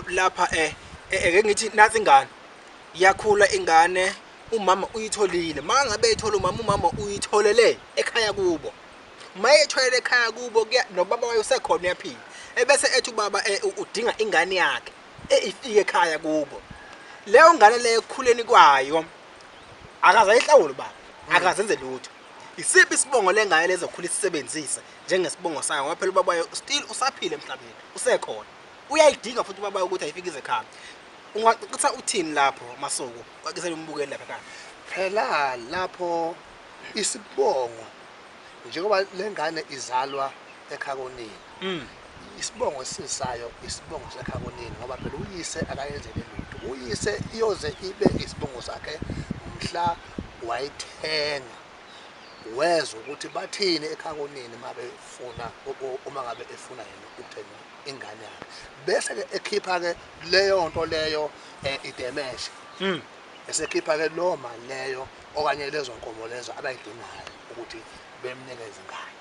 lapha eh eke ngithi nathi ingane yakhula ingane umama uyitholile mangabe ethola umama umama uyitholele ekhaya kubo maye etholele ekhaya kubo nobaba wayo sekhona uyaphila ebese ethi ubaba eh, udinga ingane yakhe eyifike ekhaya kubo leyo ngane leyo ekukhuleni kwayo akazayihlawula baba akazenze lutho isiphi isibongo lengane lezokhula isisebenzise njengesibongo sayo ngoba phela ubaba wayo still usaphila emhlabeni usekhona Uyayidinga futhi ubaba ukuthi ayifike ize ekhaya. Ungacacisa uthini lapho Masoko? Cacisa lombukeli lapha ekhaya. Phela lapho isibongo njengoba lengane izalwa ekhaya konina. Mm. Isibongo esisayo isibongo sekhaya konina ngoba phela uyise akayenzele lutho. Uyise iyoze ibe isibongo sakhe mhla wayithenga. Wezwa ukuthi bathini ekhaya konina uma befuna uma ngabe efuna yena ukuthenga. ingane yakhe bese ke ekhipha ke leyo nto leyo eh, idemeshe Mm. esekhipha ke loo mali leyo okanye lezo nkomo lezo abayidingayo ukuthi bemnikeze ingane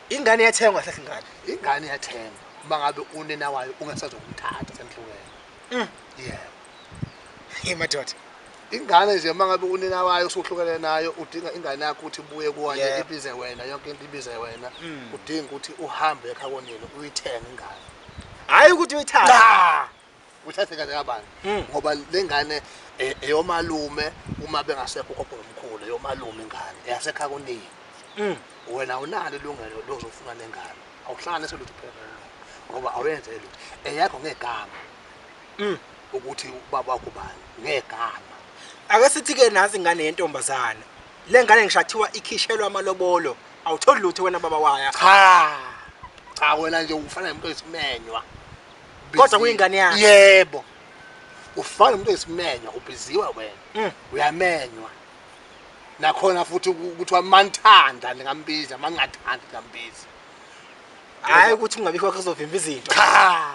ingane yathengwa kahle ingane ingane iyathengwa uma ngabe unina wayo ungesazokumthatha senhlukene Mm. yebo hey madoda Ingane nje mangabe unina wayo usuhlukene nayo udinga ingane yakho ukuthi ibuye kuwanye Yeah. ibize wena yonke into ibize wena Mm. udinga ukuthi uhambe ekha konina uyithenge ingane hhayi ukuthi uyithathe cha uthathe kahle kabani Mm. ngoba le ngane eh, eyomalume uma bengasekho ugogo nomkhulu eyomalume ingane eyasekha konina Mm. wena awunalo ilungelo lozofuna nengane awuhlanganise lutho phela nengane ngoba awuyenzeli lutho eyakho ngegama Mm. Ukuthi ubaba wakho ubani ngegama. Ake sithi ke nansi ingane yentombazana. Lengane ngishathiwa ikhishelwa amalobolo. Awutholi lutho wena baba waya. Cha. Cha wena nje ufana nomuntu oyisimenywa. Kodwa kuyingane yakhe. Yebo. Ufana nomuntu oyisimenywa ubhiziwe wena. Mm. Uyamenywa. Nakhona futhi ukuthi wamanthanda ningambiza mangathandi ngambiza. Hayi ukuthi ungabikho kuzovimba izinto. Cha.